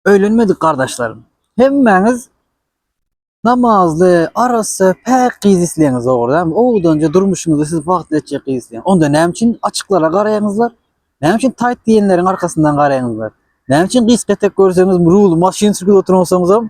Öýlenmedik gardaşlarym. Hemmäňiz namazly, arassa, päk gyz isleýäňiz dogrudanmy? Owdanja durmuşyňyzy siz bagtly etjek gyz isleýäň. Onda näme üçin açyklara garaýaňyzlar? Näme üçin taýt diýenleriň arkasyndan garaýaňyzlar? Näme üçin gysga etek görseňiz, ruly maşyn sürüp oturansoňuzam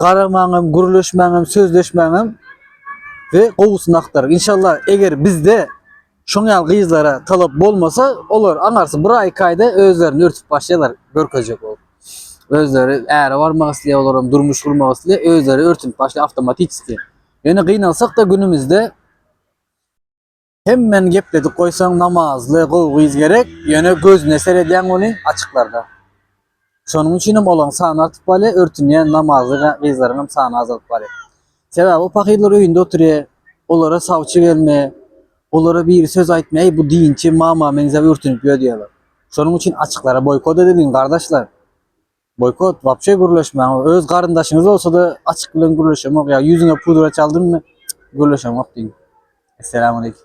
Garaman hem gürleşmän hem sözleşmän hem we gowusyny aktaryň. Inşallah eger bizde şoň ýaly gyzlara talap bolmasa olar aňarsy bir aý iki aýda özlerini örtüp başlaýlar görkezjek bolup. Özleri äre barmak isleýär olar hem durmuş gurmak isleýär özleri örtünip başlaýar avtomatiski. Ýöne gynalsak da günümizde Hemmäni gepledip goýsaň namazly gowy gyz gerek ýöne gözüne seredýäň ony açyklarda. Şonuň üçinem olaň sany artyp barýa örtünýän namazly gyzlaryňam sany azalyp barýa. Sebäbi o pahyrlar öýünde otyrýa olara sawçy gelme olara biri söz aýtma eý bu dinçi mama meňzäp örtünip ýör diýýäler. Şonuň üçin açyklara boýkot edeliň gardaşlar. Boykot wapşe gürleşmäň öz garyndaşyňyz bolsada açyk bilen gürleşemok ýa ýüzüňe pudra çaldymy gürleşemok diň. Esselamu aleýkum.